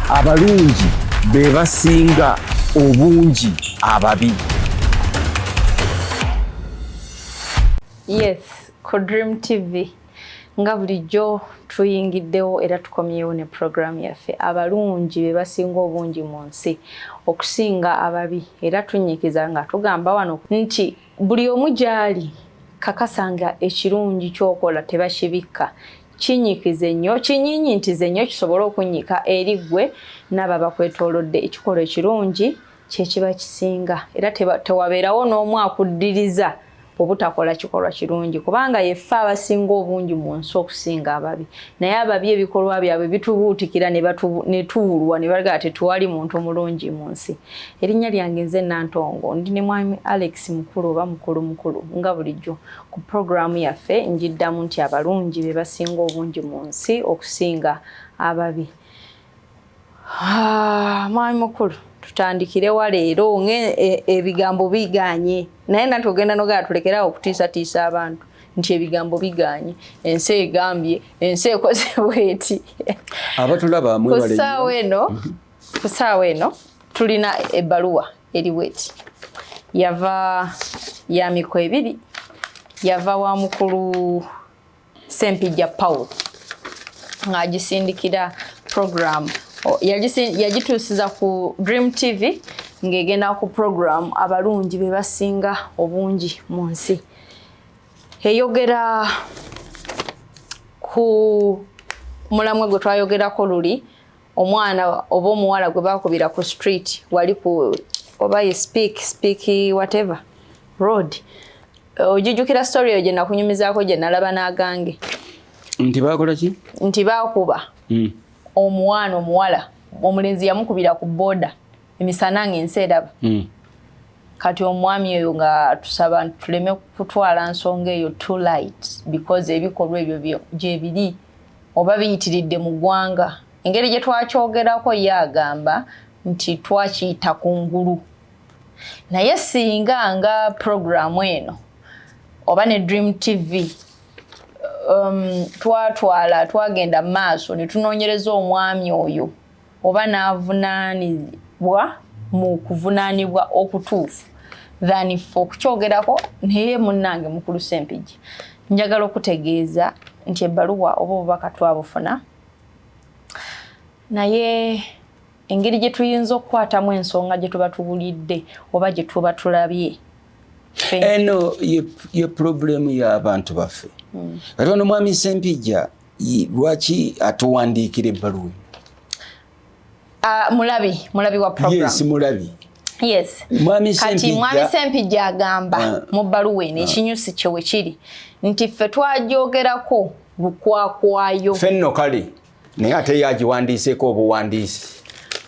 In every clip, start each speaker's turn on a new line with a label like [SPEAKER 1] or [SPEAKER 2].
[SPEAKER 1] abalungi be basinga obungi ababi
[SPEAKER 2] yes ku dream tv nga bulijjo tuyingiddewo era tukomyewo ne puroguramu yaffe abalungi be basinga obungi mu nsi okusinga ababi era tunyikiza nga tugamba wano nti buli omu gy'ali kakasa nga ekirungi kyokola tebakibikka kinyikize nnyo kinyinyintize nnyo kisobole okunnyika eri ggwe n'abo abakwetoolodde ekikolwa ekirungi kye kiba kisinga era tewabeerawo n'omu akuddiriza obutakola kikolwa kirungi kubanga yeffe abasinga obungi mu nsi okusinga ababi naye ababi ebikolwa byabwe bitubuutikira ne tuwulwa ne bagala tetuwali muntu mulungi mu nsi erinnya lyange nze nantongo ndi ne mwami alex mukulu oba mukulu mukulu nga bulijjo Ku pulogulaamu yaffe njiddamu nti abalungi be basinga obungi mu nsi okusinga ababi. Ah, mwami mukulu tutandikirewa leero ng'ebigambo e, biganye naye nati ogenda nogera tulekerawo okutiisatiisa abantu nti ebigambo biganye ensi egambye ensi ekoze bweti abatulaba
[SPEAKER 1] kusaawa eno
[SPEAKER 2] kusaawa eno tulina ebbaluwa eriweti yava ya miko ebiri yava wa mukulu sempijja paul ng'agisindikira program yagituusiza ku dream tv ng'egenda ku program abalungi be basinga obungi mu nsi eyogera ku mulamwe gwe twayogerako luli omwana oba omuwala gwe bakubira ku street wali ku oba ye speak speak whatever road ojijukira story eyo gye nakunyumizaako gye nalaba n'agange nti
[SPEAKER 1] bakola ki nti bakuba
[SPEAKER 2] hmm. omwana omuwala omulenzi yamukubira ku boda emisana nga ensi eraba hmm. kati omwami oyo nga tusaba tuleme kutwala nsonga eyo too light because ebikolwa ebyo gyebiri oba biyitiridde mu ggwanga. Engeri gye twakyogerako ye agamba nti twakiyita ku ngulu naye singa nga puroguramu eno oba ne dream tv um, twatwala twagenda maaso ne tunoonyereza omwami oyo oba n'avunaanibwa mu kuvunaanibwa okutuufu than fe okukyogerako naye munnange mukulu sempigi njagala okutegeeza nti ebbaluwa oba obubaka twabufuna naye engeri gye tuyinza okukwatamu ensonga gye tuba tuwulidde oba gye tuba tulabye eno
[SPEAKER 1] ye pulobulemu y'abantu baffe hmm. kati ono mwami sempijja lwaki atuwandiikira ebbaluwa ah, mulabi mulabi wa program yes mulabi yes
[SPEAKER 2] mwami kati mwami sempijja agamba ah. mu bbaluwa eno ah. ekinyusi kye we kiri nti ffe twagyogerako lukwakwayo fenno kale
[SPEAKER 1] naye ate yagiwandiiseeko obuwandiisi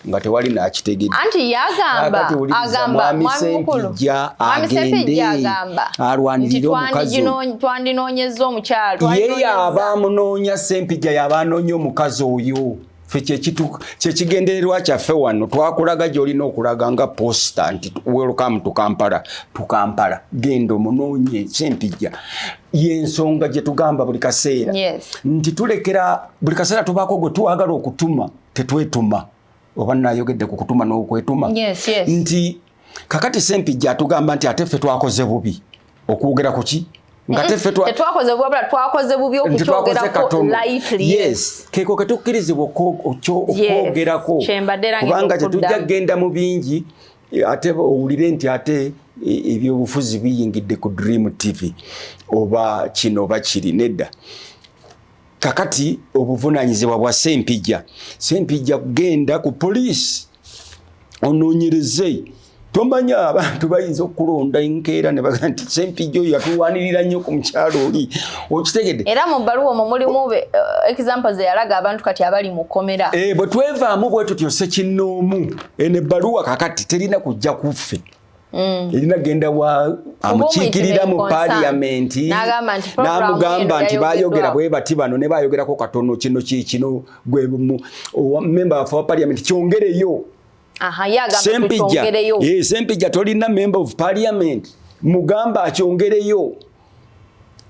[SPEAKER 1] nga tewali nakitegedde anti yagamba
[SPEAKER 2] agamba mwami mukulu mwami sepejja agamba alwanirire omukazi
[SPEAKER 1] twandinoonyezza
[SPEAKER 2] omukyalo ye yaba
[SPEAKER 1] amunoonya sempijja yaba anoonya omukazi oyo kyekigendererwa kyaffe wano twakulaga gyolina okulaga nga posta nti welcome to kampala tukampala genda omunoonye sempijja yensonga gyetugamba buli kaseera nti tulekera buli kaseera tubaako gwe twagala okutuma tetwetuma oba nayogedde ku kutuma n'okwetuma yes, yes. nti kakati sempijja atugamba nti ate ffe twakoze bubi okwogera ku ki
[SPEAKER 2] keko
[SPEAKER 1] ketukkirizibwa okwogerako kubanga tetujja kugenda mu bingi ate owulire nti ate e, ebyobufuzi biyingidde ku dream tv oba kino oba kiri nedda kakati obuvunanyizibwa bwa sempijja sempijja kugenda ku poliisi ononyereze tomanya abantu bayinza okulonda enkeera ne baga nti sempijja oyo yatuwanirira nnyo ku mukyalo oli okitegedde era mu bbaluwa omwo
[SPEAKER 2] mulimu uh, example ze yalaga abantu kati abali mu kkomera e, bwe twevaamu
[SPEAKER 1] bwe tutyo sekinnoomu eno ebbaluwa kakati terina kujja kuffe Mm. erina genda wa amukiikirira mu paliyamenti n'amugamba nti bayogera bwe bati bano ne bayogerako katono kino kyekino gwe memba wafe wa paliyamenti kyongereyo sempijja eh, sempijja tolina member of parliament mugamba akyongereyo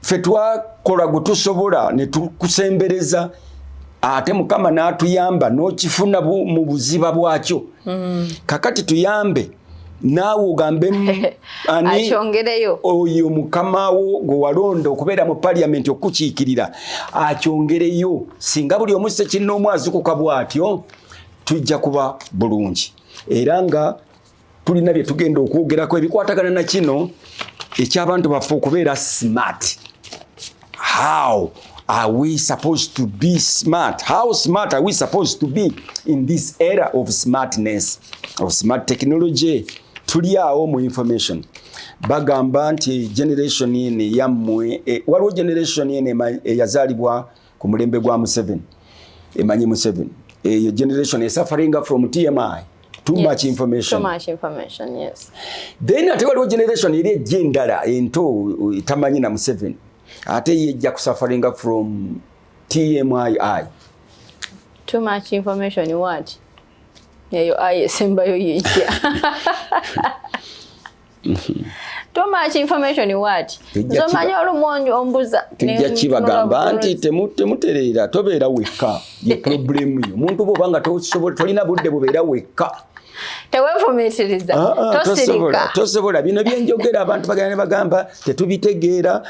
[SPEAKER 1] fe twakola gwe tusobola ne tukusembereza ate mukama n'atuyamba n'okifuna mu buziba bwakyo mm. kakati tuyambe naawe ogambe ani
[SPEAKER 2] oyo
[SPEAKER 1] mukama wo gwe walonda okubeera mu paliyamenti okukiikirira akyongereyo singa buli omu sekinnoomu azukuka bw'atyo tujja kuba bulungi era nga tulina bye tugenda okwogerako ebikwatagana na kino eky'abantu baffe okubeera smart how are we supposed to be smart how smart are we supposed to be in this era of smartness of smart technology tuli awo mu information bagamba nti generation eno eyammwe e, waliwo generation eno eyazaalibwa e, ku mulembe gwa Museveni emanyi Museveni eyo generation is suffering from TMI too yes. much information too much information
[SPEAKER 2] yes then ate waliwo
[SPEAKER 1] generation eri ejja endala ento tamanyi na Museveni ate ye ejja kusafaringa from TMI
[SPEAKER 2] too much information what eyo ayi esembayo yejja too much information what nzomanyi olumonji ombuza tujja kibagamba
[SPEAKER 1] nti temutereera tobeera wekka ye problemu yo omuntu bwoba nga tosobola tolina budde bubeera wekka tewefumitiriza
[SPEAKER 2] ah, ah, tosirika
[SPEAKER 1] tosobola bino byenjogera abantu bagenda nebagamba tetubitegeera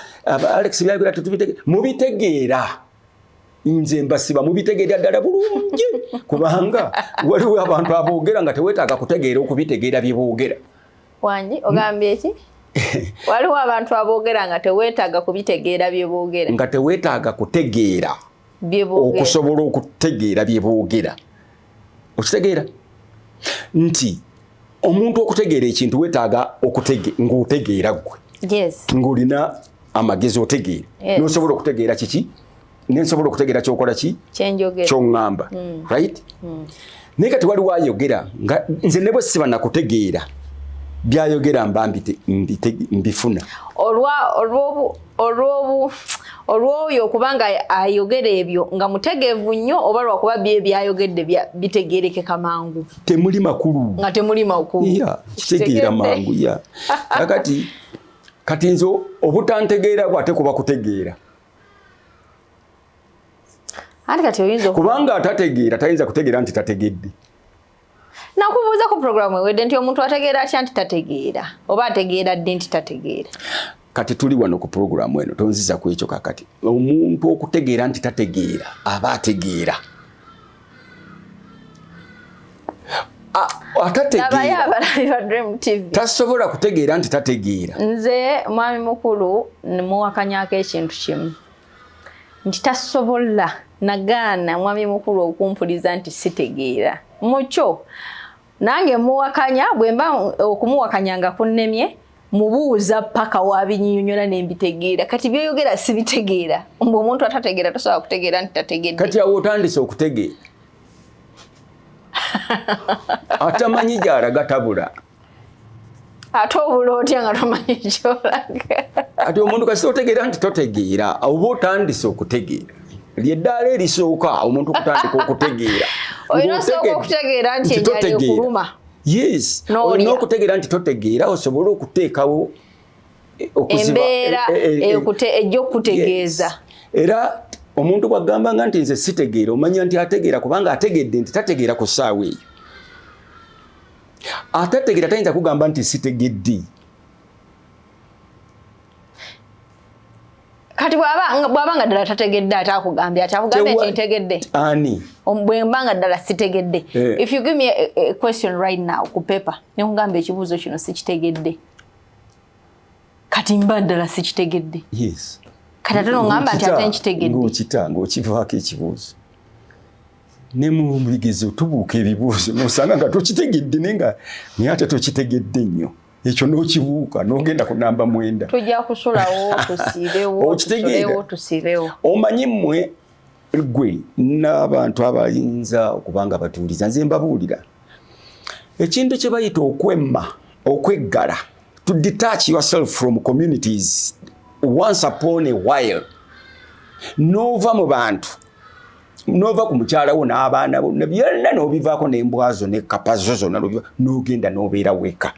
[SPEAKER 1] alex byagera tetubitegeera mubitegeera nze mbasiba mubitegeera ddala bulungi kubanga waliwo abantu aboogera nga tewetaaga kutegeera okubitegeera byeboogera wangi
[SPEAKER 2] ogambye eki waliwo abantu aboogera nga teweetaaga kubitegeera bye boogera nga teweetaaga
[SPEAKER 1] kutegeera okusobola okutegeera bye boogera okitegeera nti omuntu okutegeera ekintu weetaaga ng'otegeera ggwe ng'olina amagezi otegeera n'osobola okutegeera
[SPEAKER 2] kiki
[SPEAKER 1] nensobola okutegera kyokola ki kyoŋŋamba
[SPEAKER 2] mm.
[SPEAKER 1] right mm. naye kati waliwo ayogera nga nze ne bwe siba nakutegeera byayogera mba mbifuna olw'oyo okuba nga ayogera ebyo nga mutegeevu nnyo oba lwakuba bye byayogedde bitegeerekeka mangu temuli makulu nga temuli makulu
[SPEAKER 2] kitegeera
[SPEAKER 1] mangu ya kakati kati nze obutantegeera bwate kuba kutegeera anti kati oyinza kubanga atategeera tayinza kutegeera nti tategedde
[SPEAKER 2] nakubuuza ku programu ewedde nti omuntu ategeera atya nti tategeera oba ategeera ddi nti tategeera kati tuli
[SPEAKER 1] wano ku programu eno tonziza ku ekyo kakati omuntu okutegeera nti tategeera aba ategeera tasobola kutegeera nti tategeera nze mwami
[SPEAKER 2] mukulu muwakanyako ekintu kimu nti tasobola nagaana mwami mukulu okumpuliza nti sitegeera mukyo nange muwakanya bwemba okumuwakanya nga kunnemye mubuuza paka wabinyinyonyola nembitegeera kati byoyogera sibitegeera mbu omuntu atategeera tosobola kutegeera nti tategedde kati awo otandise
[SPEAKER 1] okutegeera atamanyi gyalaga tabula
[SPEAKER 2] ate obula otya nga tomanyi kyolaga ati omuntu
[SPEAKER 1] kasita otegeera nti totegeera oba otandise okutegeera lyeddaala erisooka omuntu okutandika okutegeera olina osooka
[SPEAKER 2] okutegeera nti enjala ekuluma yes
[SPEAKER 1] olina okutegeera nti totegeera osobole okuteekawo eh,
[SPEAKER 2] embeera eh, eh, ejja okukutegeeza era
[SPEAKER 1] omuntu bwagambanga nti nze sitegeera omanya nti ategeera kubanga ategedde nti tategeera ku ssaawa eyo atategera tayinza kugamba nti sitegedde
[SPEAKER 2] kati bwaba nga ddala tategedde ate akugambye ati akugambye nti ntegedde ani
[SPEAKER 1] bwemba nga ddala
[SPEAKER 2] sitegedde eh. if you give me a, a question right now ku paper nekugamba ekibuuzo kino sikitegedde kati mba ddala sikitegedde yes
[SPEAKER 1] kati ate nongamba
[SPEAKER 2] nti ate nkitegedde ngokita ngokivaako
[SPEAKER 1] ekibuuzo ne mu bigezo tubuuka ebibuuzo nosanga nga tokitegedde naye nga naye ate tokitegedde nnyo ekyo n'okibuuka n'ogenda ku namba mwenda tujja kusulawo
[SPEAKER 2] tusiibewo okitegeera tusiibewo omanyi mmwe
[SPEAKER 1] gwe n'abantu abayinza okuba nga batuuliza nze mbabuulira ekintu kye bayita okwemma okweggala to detach yourself from communities once upon a while n'ova mu bantu nova ku mukyala wo n'abaana bo byonna n'obivaako n'embwazo ne kapazo zonna n'ogenda n'obeera weka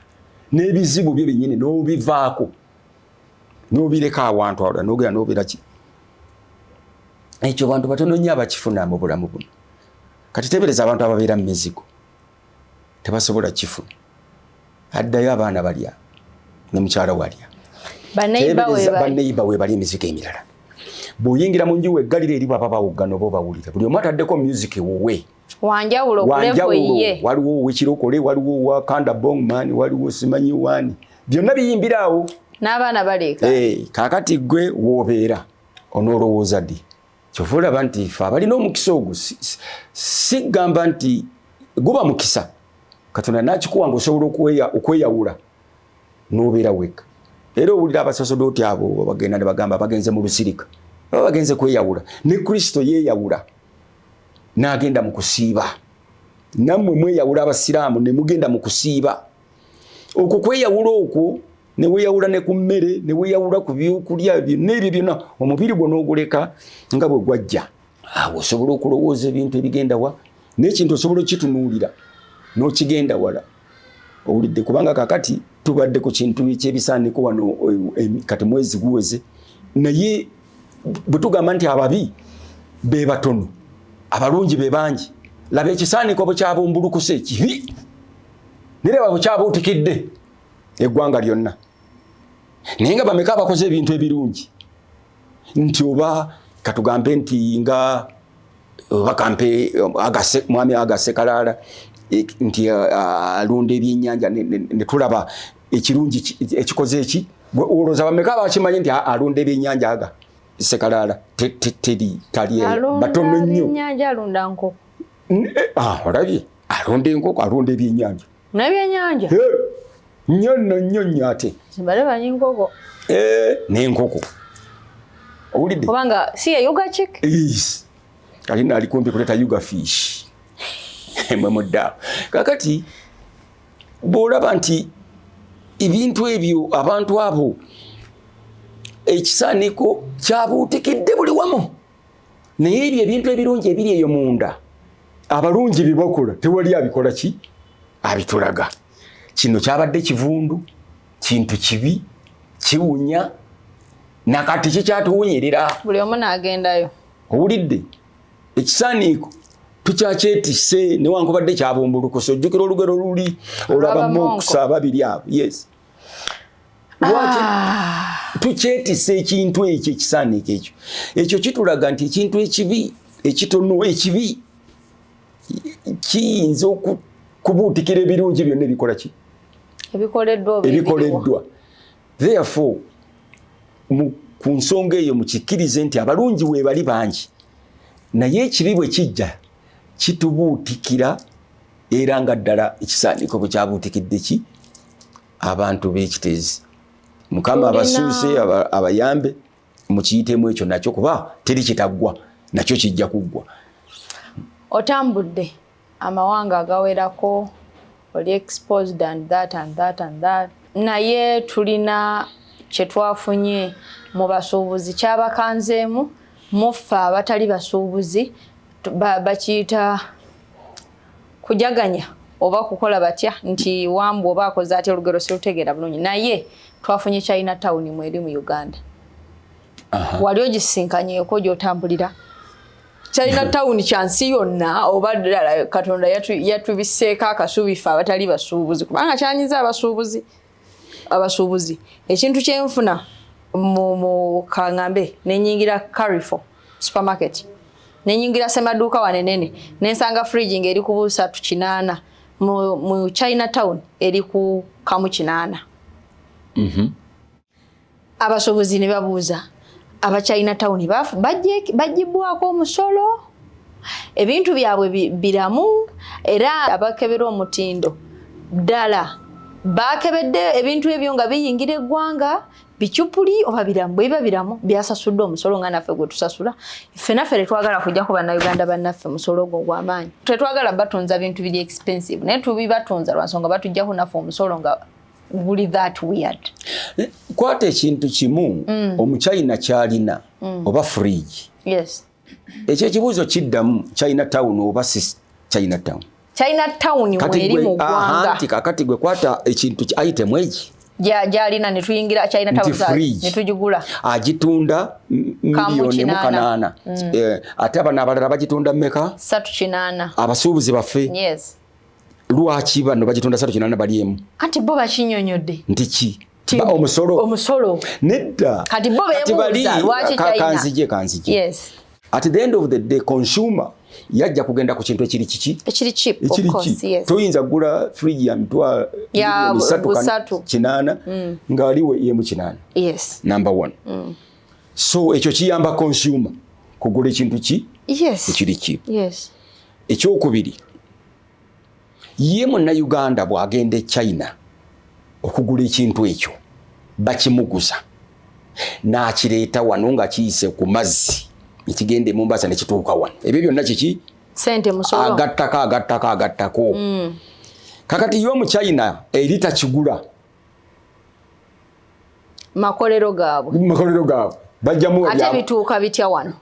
[SPEAKER 1] n'ebizibu byo byennyini n'obivaako n'obireka awantu awala n'ogenda n'obeera ki ekyo bantu batono nnyo abakifuna mu bulamu buno kati tebereza abantu ababeera mu mizigo tebasobola kifu addayo abaana balya ne mukyala walya baneiba webali emizigo emirala bw'oyingira mu nju weggalira eri baba bawuggana oba obawulira buli omu ataddeko music wuwe wanjawulo
[SPEAKER 2] waliwo owekirokole
[SPEAKER 1] waliwo owa kanda bongman waliwo simanyi wani byonna biyimbira awo n'abaana baleeka
[SPEAKER 2] hey, eh, kakati gwe
[SPEAKER 1] w'obeera onoolowooza ddi kyova olaba nti fe abalina omukisa ogwo sigamba nti guba mukisa katonda nakikuwa nga osobola okweyawula nobeera weka era owulira abasasodooti abo bagenda nebagamba bagenze mu lusirika aba bagenze kweyawula ne kristo yeyawula nagenda mu kusiiba nammwe mweyawula abasiraamu nemugenda mu kusiiba okwo kweyawula okwo ne weyawula ne ku mmere ne weyawula ku byokulya byonna ebyo byonna omubiri gwo n'oguleka nga bwe gwajja awo osobola okulowooza ebintu ebigenda wa n'ekintu osobola okukitunuulira n'okigenda wala owulidde kubanga kakati tubadde ku kintu ekyebisaaniko wano e, e, kati mwezi guweze naye bwe tugamba nti ababi be batono abalungi be bangi laba ekisaaniko bwe kyabumbulukuse ekibi nireba bukyabuutikidde eggwanga lyonna naye nga bameka abakoze ebintu ebirungi nti oba katugambe nti nga oba kampe mwami agasekalaala e, nti alunda ebyenyanja netulaba ekirungi ekikoze eki olowooza bameka bakimanyi nti alunda ebyenyanja aga sekalaala teri taliebatono nnyo
[SPEAKER 2] eh, ah,
[SPEAKER 1] olabye alunda enkoko alunda ebyenyanja nebyenyanja
[SPEAKER 2] nyo
[SPEAKER 1] no nyo nyo ate zibale banyi nkoko
[SPEAKER 2] eh, nenkoko
[SPEAKER 1] owulidde kubanga si
[SPEAKER 2] eyuga chik
[SPEAKER 1] kali naali kumpi kuleta yuga fish mwe mudda kakati bwolaba nti ebintu ebyo abantu abo ekisaaniko kyabuutikidde buli wamu naye ebyo ebintu ebirungi ebiri eyo munda abalungi byebakola tewali abikola ki abitulaga kino kyabadde kivundu kintu kibi kiwunya nakati kikyatuwunyirira buli omu nagendayo
[SPEAKER 2] owulidde
[SPEAKER 1] ekisaaniiko tukyakyetise newankubadde kyabumbulukusa ojjukira olugero luli olaba moksa babiri abo yes Ah. tukyetisa ekintu ekyo ekisaaniiko ekyo ekyo kitulaga nti ekintu ekibi ekitono ekibi kiyinza okubuutikira ebirungi byonna ebikola ki ebikoleddwa therefore ku nsonga eyo mukikirize nti abalungi weebali bangi naye ekibi bwe kijja kitubuutikira era nga ddala ekisaaniko bwe kyabuutikidde ki abantu b'ekiteezi mukama abasuuse abayambe mukiyitemu ekyo nakyo kuba teri kitaggwa nakyo kijja kuggwa otambudde
[SPEAKER 2] amawanga agawerako oli exposed and that and that and that naye tulina kye twafunye mu basuubuzi kyabakanzeemu muffe abatali basuubuzi bakiyita ba kujaganya oba kukola batya nti wambu oba akoze atya olugero sirutegeera bulungi naye twafunye china town mweri mu uganda wali ogisinkanyeko gyotambulira china town kyansi yonna oba ddala katonda yatubiseeko akasuubife abatali basuubuzi kubanga kyanyiza abasuubuzi abasuubuzi ekintu kyenfuna kangambe nenyingira carifo supermarket nenyingira semaduuka wanenene nensanga fridge ngaeri ku busatu kinaana mu china town eri ku kamu kinaana mm -hmm. Abasuubuzi ne babuuza abakyalina tawuni bajjibwako omusolo ebintu byabwe biramu era abakebera omutindo ddala baakebedde ebintu ebyo nga biyingira eggwanga bicupuli oba biramu bwe biba biramu byasasudde omusolo nga naffe gwe tusasula ffe naffe tetwagala kujja ku bannayuganda bannaffe musolo ogwo gwamaanyi tetwagala batunza bintu biri expensive naye tubibatunza lwansonga batujjako naffe omusolo nga buli that weird eh, kwata
[SPEAKER 1] ekintu kimu mm. omuchina kyalina mm. oba fridge yes
[SPEAKER 2] ekyo ekibuuzo
[SPEAKER 1] kiddamu china town oba si china town china
[SPEAKER 2] town
[SPEAKER 1] weri mu
[SPEAKER 2] gwanga
[SPEAKER 1] nti kakati gwe
[SPEAKER 2] kwata
[SPEAKER 1] ekintu ki
[SPEAKER 2] item egi gyalina ne tuyingira china town ne tujigula agitunda
[SPEAKER 1] miliyoni mu kanaana mm. eh, ate abana abalala bagitunda meka satu kinana
[SPEAKER 2] abasuubuzi baffe
[SPEAKER 1] yes
[SPEAKER 2] lwaki
[SPEAKER 1] bano bagitonda satu kinana bali emu anti bo bakinyonyodde
[SPEAKER 2] nti ki
[SPEAKER 1] omusolo omusolo nedda kati bo bebuuza
[SPEAKER 2] lwaki china kanzije kanzije yes
[SPEAKER 1] at the
[SPEAKER 2] end of the
[SPEAKER 1] day consumer yajja kugenda ku kintu ekiri kiki ekiri
[SPEAKER 2] cheap of course yes toyinza gula fridge
[SPEAKER 1] ya mitwa ya busatu
[SPEAKER 2] kinana
[SPEAKER 1] mm. ngali we yemu kinana yes number 1 mm. so ekyo kiyamba consumer kugula ekintu ki yes ekiri cheap
[SPEAKER 2] yes ekyokubiri
[SPEAKER 1] ye munnayuganda bw'agenda e china okugula ekintu ekyo bakimuguza n'akireeta wano nga kiyise ku mazzi ekigenda emumbasa ne kituuka wano ebyo byonna kiki
[SPEAKER 2] agattako agattako agattako
[SPEAKER 1] mm. kakati ye omuchina eri takigula
[SPEAKER 2] makolero gaabwe makolero gaabwe bajjamu ate
[SPEAKER 1] bituuka bitya
[SPEAKER 2] wano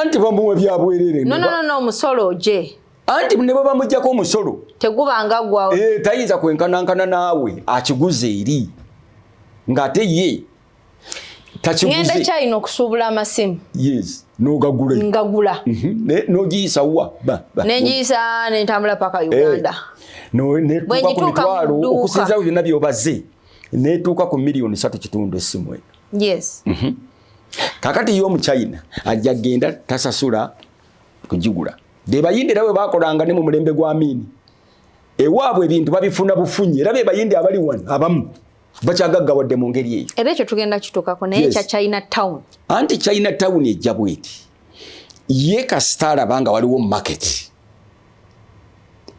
[SPEAKER 2] anti bamuwa
[SPEAKER 1] byabwerere no, no, no, no, musolo
[SPEAKER 2] je anti ne bwebamujjako
[SPEAKER 1] omusolo tegubanga gwa
[SPEAKER 2] e, tayinza kwenkanankana
[SPEAKER 1] naawe akiguze eri ng'ate ye takigenda kyalina
[SPEAKER 2] okusuubula amasimu yes
[SPEAKER 1] nogagula ngagula mhm.
[SPEAKER 2] nogiyisa
[SPEAKER 1] wa nengiyisa
[SPEAKER 2] nentambula paka eh, uganda netuuka
[SPEAKER 1] ku mitwalo okusinzawo byonna byobaze netuuka ku miliyoni satu kitundu esimu eno yes mm -hmm. kakati yo omuchina ajja genda tasasula kugigula bebayindi era bwe bakolanga ne mu mulembe gwa miini ewaabwe ebintu babifuna bufunyi era bebayindi abali wano abamu bakyagaggawadde mu ngeri eyo era ekyo tugenda kitukako
[SPEAKER 2] naye ekya china town anti china
[SPEAKER 1] town ejja bweti ye kasita alaba nga waliwo market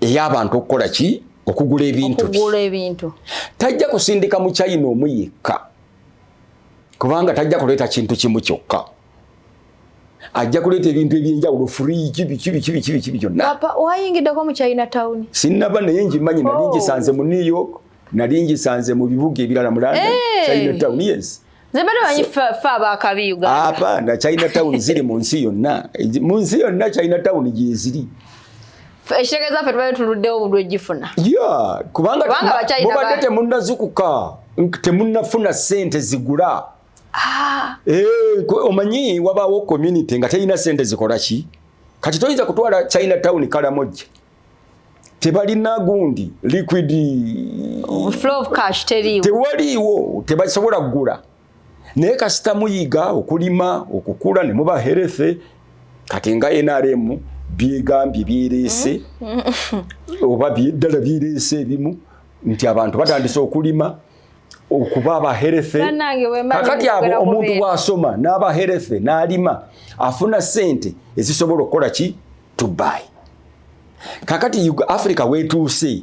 [SPEAKER 1] ey'abantu okukola ki okugula ebintu tajja kusindika mu china omu yekka kubanga tajja kuleeta kintu kimu kyokka ajja kuleeta ebintu ebyenjawulo furiji biki biki biki biki biki byonna wayingiddeko mu
[SPEAKER 2] china town sinnaba naye ngimanyi
[SPEAKER 1] nali oh. ngisanze mu new york nali ngisanze mu bibuga ebirala mu london eh. china town yes
[SPEAKER 2] apana china town
[SPEAKER 1] ziri mu nsi yonna mu nsi yonna china town gyeziri ekitege
[SPEAKER 2] zaffe tubadde tuluddewo obudwe gifuna kubanga
[SPEAKER 1] mubadde temunazukuka temunafuna sente zigula ah. eh, omanyi wabaawo community nga terina sente zikola ki kati toyinza kutwala china town kalamojja tebalina gundi liquid
[SPEAKER 2] tewaliiwo
[SPEAKER 1] tebasobola kugula naye kasita muyiga okulima okukula ne muba healthy kati nga NRM byegambye byerese mm-hmm. oba byeddala byerese ebimu nti abantu batandise okulima okuba abaherefe kakati abo omuntu bwasoma n'abaherefe n'alima afuna sente ezisobola okukola ki tubai kakati africa wetuuse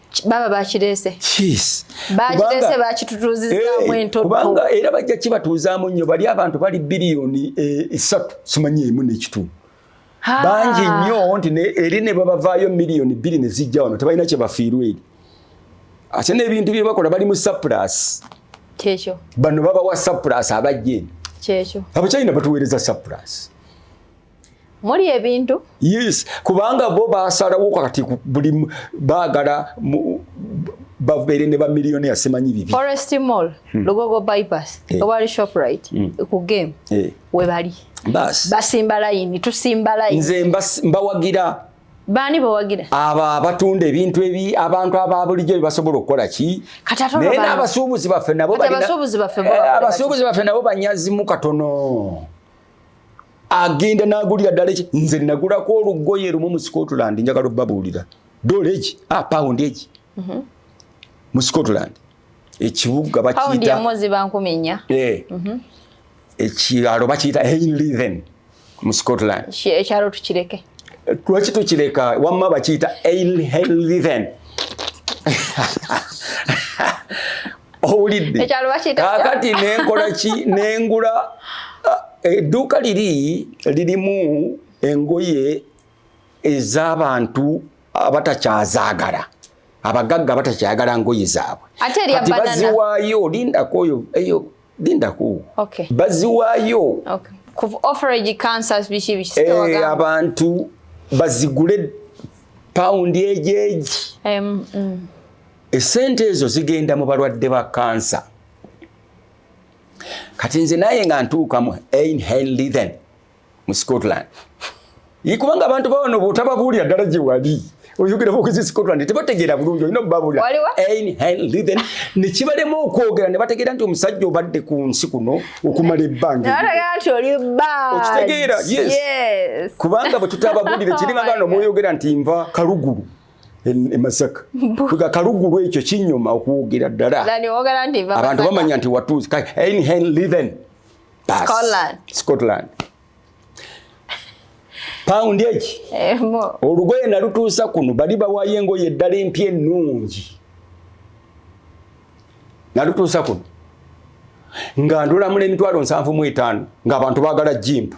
[SPEAKER 1] baba
[SPEAKER 2] bakirese
[SPEAKER 1] bakirese
[SPEAKER 2] bakitutuuzizaamu eh, entokubanga era bajja
[SPEAKER 1] kibatuuzaamu nnyo bali abantu bali biliyoni eh, esatu simanyi emu nekitundu bangi nnyo nti eri ne babavaayo miliyoni bbiri ne zijja wano tebalina kye bafiirwa eri ate n'ebintu bye bakola bali mu sapulasi kyekyo
[SPEAKER 2] bano babawa
[SPEAKER 1] sapulasi abajja eno kyekyo abachina
[SPEAKER 2] batuweereza
[SPEAKER 1] sapulasi
[SPEAKER 2] muli ebintu yes kubanga
[SPEAKER 1] bo basalawo kati buli bagala babeere ne bamiliyoni yasimanyi bibi forest mall hmm.
[SPEAKER 2] lugogo bypass eh. ewali shoprite hmm. ku game eh. webali bas basimba layini tusimba layini nze mbawagira
[SPEAKER 1] baani
[SPEAKER 2] bowagira abo abatunda
[SPEAKER 1] ebintu ebi abantu aba bulijjo bebasobola okukola ki naye n'abasuubuzi baffe nabo eh, abasuubuzi baffe nabo banyazimu katono agenda nagulira ddala eki nze nagulako olugoye lumu mu scotland njagala obabuulira dola eki a ah, pound eki mhm. mu scotland ekibuga bakiyitaozibankuminya
[SPEAKER 2] eh. mhm.
[SPEAKER 1] ekyalo bakiyita henliven mu scotland ekyalo tukireke
[SPEAKER 2] lwaki
[SPEAKER 1] tukireka wamma bakiyita henliven owulidde kakati
[SPEAKER 2] nenkola
[SPEAKER 1] ki nengula ah, edduuka liri lirimu engoye ez'abantu abatakyazaagala abagagga batakyagala ngoye zaabwe kati
[SPEAKER 2] baziwaayo
[SPEAKER 1] lindako oyo
[SPEAKER 2] eyo lindako baziwaayo eh, abantu
[SPEAKER 1] bazigule pawundi egyeji mm. esente ezo zigenda mu balwadde ba kansa kati nze naye nga ntuuka mu einhenlithen mu scotland kubanga abantu bawano bwotababuulira ddala gye wali oyogera bokezi scotland tebategeera bulungi olina obubabuulira einhenlithen nekibalema okwogera ne bategeera nti omusajja obadde ku nsi kuno okumala ebbangaokitegeera yes kubanga bwe tutababuulire kiringa gano mwoyogera nti nva kalugulu e Masaka kuga kalugulu ekyo kinyuma okuwugira ddala abantu bamanya nti watuuzi Einhenliven Scotland Scotland paundi eki eh, olugoye nalutuusa kuno bali bawayo engoye eddala empya ennungi nalutuusa kuno nga ndulamula emitwalo nsanvu mu etaano ng'abantu baagala jimpa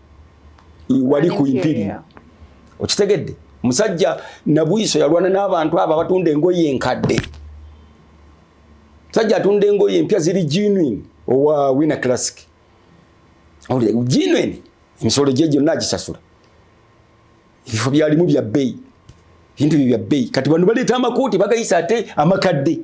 [SPEAKER 1] wali ku impiri okitegedde musajja nabwiso yalwana n'abantu abo abatunda engoye enkadde musajja atunda engoye empya ziri genuine owa wina classic genuine emisolo gye gyonna agisasula ebifo byalimu bya bbeyi ebintu bye bya bbeyi kati bano baleeta amakooti bagayisa ate amakadde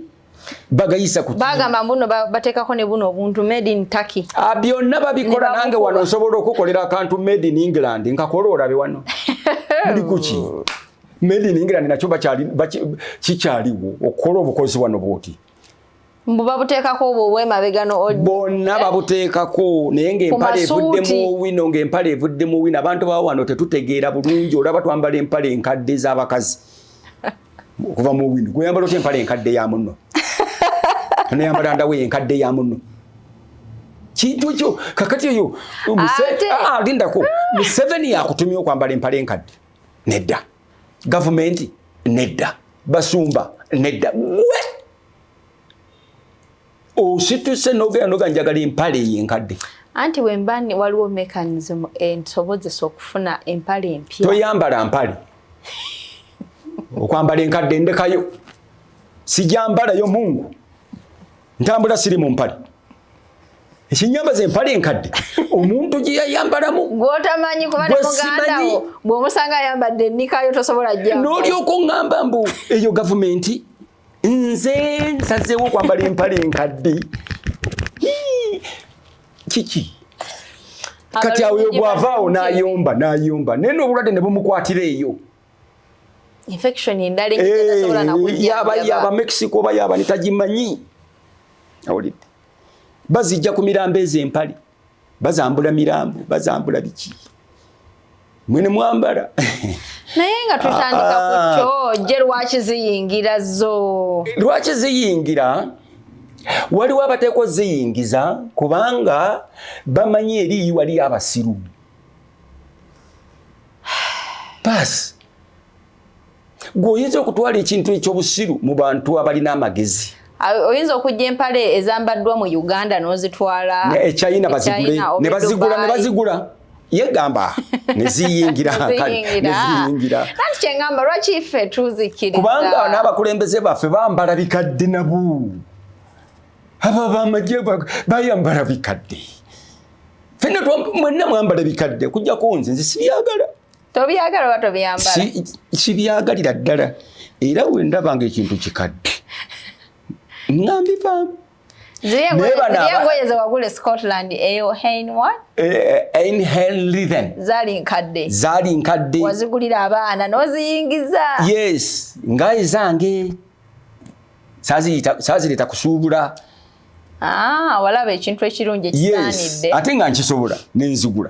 [SPEAKER 1] bagayisa ku bagamba mbuno
[SPEAKER 2] batekako ne buno obuntu made in Turkey a byonna babikola
[SPEAKER 1] nange wano nsobola okukolera akantu made in England nkakola olabe wano ndi kuki made in England nakyo bakyali kikyaliwo okukola obukozi wano bwoti mbu
[SPEAKER 2] babuteekako obwo obwemabega no bonna
[SPEAKER 1] babuteekako naye ng'empale evudde mu wino ng'empale evudde mu wino abantu bawa wano tetutegeera bulungi olaba twambala empale enkadde z'abakazi okuva mu wino gweyambala otya empala enkadde ya munno neyambala ndawo enkadde ya munno kintu kyo kakati eyo ah, lindako museveni yakutumya okwambala empala enkadde nedda gavumenti nedda basumba nedda gwe osituse nogenda noga njagala empale eyo enkadde anti wemba
[SPEAKER 2] waliwo mechanism ensobozesa okufuna empale empya toyambala mpale
[SPEAKER 1] okwambala enkadde ndekayo sijambalayo mungu ntambula siri mu mpale ekinyamba ze mpale enkadde omuntu gye yayambalamu gwotamanyi
[SPEAKER 2] kubanemugandawo bwomusanga ayambadde enikayo tosobola ja n'olyoka oŋŋamba
[SPEAKER 1] mbu eyo gavumenti nze nsazeewo okwambala empale enkadde kiki kati awo yogwavaawo nayomba nayomba naye nobulwadde ne bumukwatira eyo
[SPEAKER 2] infection endala enyitasobola eh, nakuyaba yaba Mexico oba
[SPEAKER 1] yaba nitagimanyi awulidde bazijja ku mirambo ezo empale bazambula mirambo bazambula biki mwene mwambala naye
[SPEAKER 2] nga tutandika ku ah. kyo je lwaki ziyingira zo lwaki ziyingira
[SPEAKER 1] waliwo abateekwa oziyingiza kubanga bamanyi eriyi waliyo abasiru baasi gwe oyinza okutwala ekintu ekyobusiru mu bantu abalina amagezi oyinza okujja
[SPEAKER 2] empale ezambaddwa mu uganda n'ozitwala echina
[SPEAKER 1] ne bazigula ne bazigula yegamba neziyingira
[SPEAKER 2] neziyingiraanti kyengamba lwaki ffe tuzikiriza kubanga n'abakulembeze
[SPEAKER 1] baffe bambala bikadde nabo aba bamagye bayambala bikadde fenna mwenna mwambala bikadde okujjako nze nze sibyagala tobyagala oba
[SPEAKER 2] tobyambala kibyagalira
[SPEAKER 1] ddala era wendaba nga ekintu kikadde ngambivaamu zaali nkadde wazigulira abaana
[SPEAKER 2] noziyingiza yes
[SPEAKER 1] nga ezange saazireeta kusuubula ah,
[SPEAKER 2] walaba ekintu ekirungi ekisaanidde ate nga nkisobola
[SPEAKER 1] nenzigula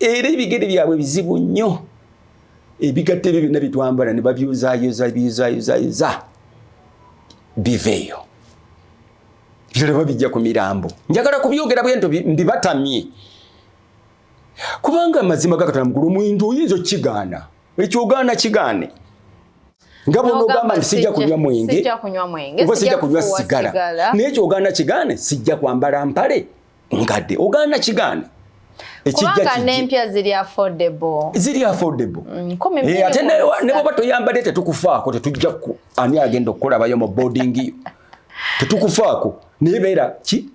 [SPEAKER 1] era ebigere byabwe bizibu nnyo ebigatto ebyo byonna bitwambala ne babyuzayoza byuzayozayoza biveeyo biralaba bijja ku mirambo njagala kubyogera bwento mbibatamye kubanga amazima gakatala mugulu omuntu oyinza okigaana ekyogaana kigaane nga bona ogamba nti sijja kunywa mwenge oba sijja kunywa sigala naye kyogaana kigaane sijja kwambala mpale nkadde ogaana kigaana kubanga
[SPEAKER 2] nempya ziri affordable ziri affordable
[SPEAKER 1] mm, eh, ate nebwoba toyambadde tetukufaako tetujja ku ani agenda okukulabayo mu boarding yo tetukufaako naye beera ki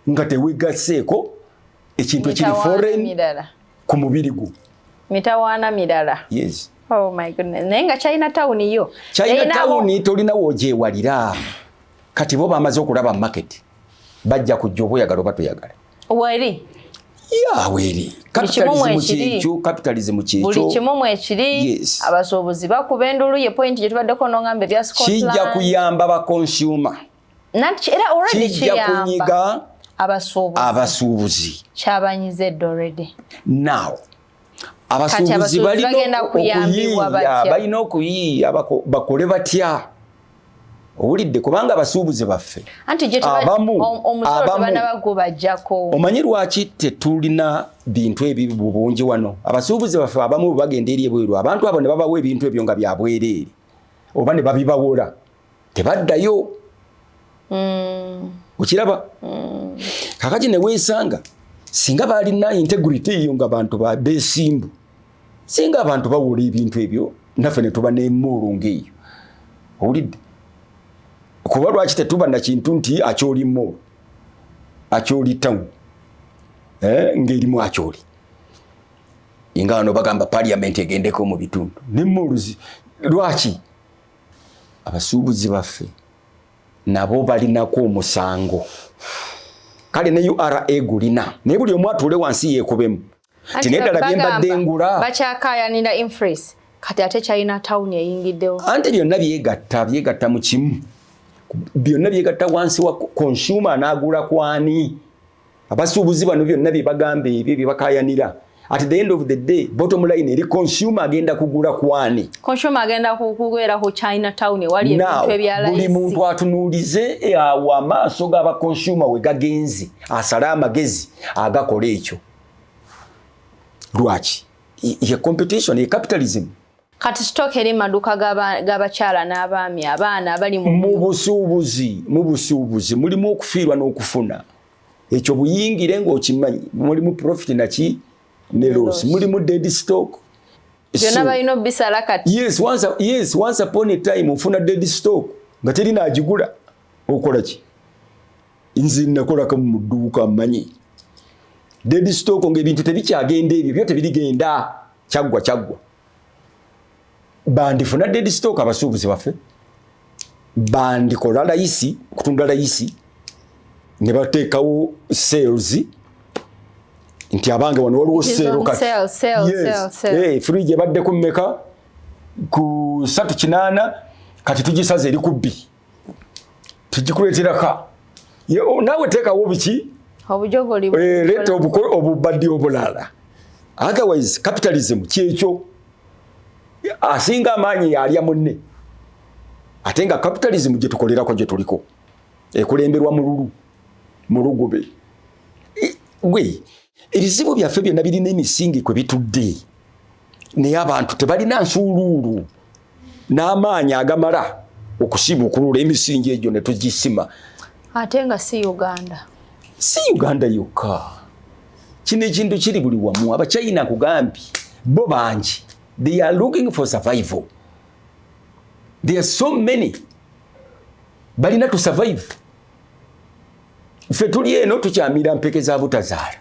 [SPEAKER 1] nga tewegaseeko ekintu ekiri foreign ku mubiri gwo mitawaana
[SPEAKER 2] mirala yes oh my
[SPEAKER 1] goodness
[SPEAKER 2] naye nga china town yo china town tolina
[SPEAKER 1] wogyewalira kati bo bamaze okulaba market bajja kujja oba oyagala oba toyagala weri
[SPEAKER 2] ya
[SPEAKER 1] weri kyekyo capitalism kyekyo kimu mwekiri
[SPEAKER 2] abasuubuzi bakuba endulu ye point gye tubaddeko nongamba ebya kijja kuyamba ba
[SPEAKER 1] consumer era
[SPEAKER 2] already kiyamba
[SPEAKER 1] abasuubuzi kyabanyiza
[SPEAKER 2] eddo already now
[SPEAKER 1] abasuubuzi balina okuyiiya bakole batya owulidde kubanga abasuubuzi baffe abamu omanyi lwaki tetulina bintu ebibi mu bungi wano abasuubuzi baffe abamu bagenda eri ebweru abantu abo ne babawa ebintu ebyo nga byabwereere oba ne babibawola tebaddayo mm. okiraba mm. kakati neweesanga singa baalina integrity eyo nga bantu besimbu singa abantu bawula ebintu ebyo naffe netuba nemoolo ngaeyo owulidde kuba lwaki tetuba nakintu nti akyoli moolo akyoli town eh, ngaerimu akyoli inga wano bagamba parliament egendeko mu bitundu nemoolo lwaki abasuubuzi baffe nabo balinako omusango kale ne ura gulina naye buli omu atuule wansi yeekubemu ti naye ddala bye mbadde ngula bakyakaayanira
[SPEAKER 2] infres kati ate kyalina tawuni eyingiddewo ante byonna byegatta
[SPEAKER 1] byegatta mu kimu byonna byegatta wansi wa consumer anaagula kwani abasuubuzi bano byonna bye bagamba ebyo bye bakayanira at the end of the day bottom line eri consumer agenda kugula kwani consumer agenda
[SPEAKER 2] kugwera ku china town wali ebintu ebyalaisi buli muntu atunuulize
[SPEAKER 1] e, awo amaaso gaba consumer we gagenzi asale amagezi agakola ekyo lwaki ye competition ye capitalism Kati sitoka
[SPEAKER 2] eri maduka g'abakyala n'abaami abaana abali mu busuubuzi
[SPEAKER 1] mu busuubuzi mulimu okufiirwa n'okufuna ekyo buyingire ng'okimanyi mulimu profit naki ne loss mulimu dead stock byonna
[SPEAKER 2] balina obisala kati yes once, yes once
[SPEAKER 1] upon a time ofuna dead stock nga teri naagigula okola ki nzi nakolaka mu dduuka manyi dedi stock nga ebintu tebikyagenda ebyo byo tebirigenda kyaggwa kyaggwa bandifuna dedi stock abasuubuzi baffe bandikola layisi kutunda layisi ne bateekawo sales nti abange wano waliwo seero katfridge
[SPEAKER 2] eh, ebaddeko
[SPEAKER 1] mmeka ku satu kinaana kati tugisaza eri ku bbiri tekikuleteraka nawe tekawo biki eh,
[SPEAKER 2] leta
[SPEAKER 1] obubadi obulala otherwise capitalism kyekyo asinga amaanyi yalya munne ate nga capitalism gyetukolerako gyetuliko ekulemberwa mululu mulugube gwe ebizibu byaffe byonna birina emisingi kwe bitudde naye abantu tebalina nsuuluulu n'amaanyi agamala okusibukulula emisingi egyo
[SPEAKER 2] ne
[SPEAKER 1] tugisima
[SPEAKER 2] ate
[SPEAKER 1] nga si
[SPEAKER 2] uganda
[SPEAKER 1] si uganda yokka kino ekintu kiri buli wamu abachina kugambye bo bangi they are looking for survival there are so many balina to survive ffe tuli eno tukyamira mpeke za butazaala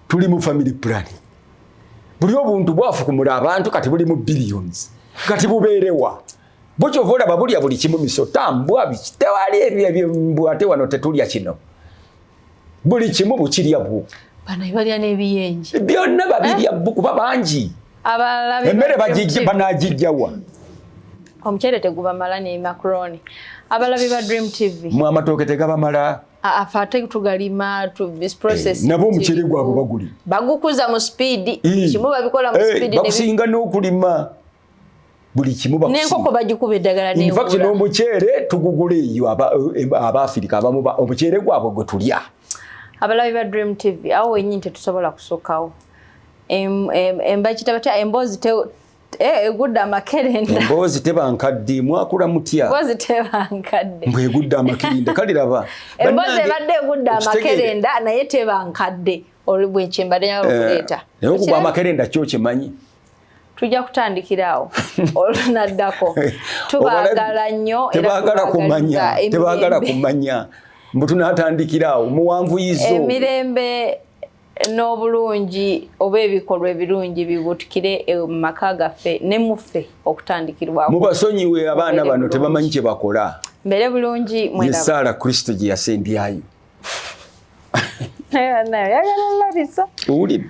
[SPEAKER 1] tuli mu family planning buli obuntu bwafukumula abantu kati buli mu billions kati bubeerewa bukyova olaba bulya buli kimu misota mbwa biki tewali ebyo ebyo mbwa ate wano tetulya kino buli kimu bukirya bwo bano balya
[SPEAKER 2] n'ebiyenje byonna babirya eh?
[SPEAKER 1] bbu kuba bangi Abalabi
[SPEAKER 2] emmere
[SPEAKER 1] banagijjawa
[SPEAKER 2] omuceere tegubamala ne macaroni abalabi ba dream tv mu amatooke tegabamala
[SPEAKER 1] afa ate
[SPEAKER 2] tugalima eh, nabo omuceere gwabwe
[SPEAKER 1] baguli bagukuza mu
[SPEAKER 2] sipiidi kimu babikola mu sipiidi eh, bakusinga n'okulima
[SPEAKER 1] buli kimu bakusinenkoko bagikuba eddagala
[SPEAKER 2] infact n'omuceere
[SPEAKER 1] tugugula eyo eh, abaafirika abamu omuceere gwabwe gwe tulya abalabi ba
[SPEAKER 2] dream tv awo wenyini tetusobola kusokawo embakita batya emboozi eh, egudde amakerenda emboozi teba nkadde
[SPEAKER 1] mwakula mutya emboozi teba
[SPEAKER 2] nkadde mbwe egudde amakerenda
[SPEAKER 1] kale laba emboozi ebadde
[SPEAKER 2] egudde amakerenda naye teba nkadde olubwekyembadde nyawo eh, okuleeta naye okuba amakerenda
[SPEAKER 1] kyo kyemanyi tujja
[SPEAKER 2] kutandikira awo olunaddako tubagala nnyo tebagala kumanya
[SPEAKER 1] tebagala kumanya mbu tunatandikira awo muwanvuyizo emirembe
[SPEAKER 2] n'obulungi oba ebikolwa ebirungi bibutukire e, mu maka gaffe ne muffe okutandikirwa mubasonyiwe abaana
[SPEAKER 1] bano tebamanyi kye bakola mbere bulungi
[SPEAKER 2] mwesaala kristo
[SPEAKER 1] gye yasembyayo
[SPEAKER 2] owulidde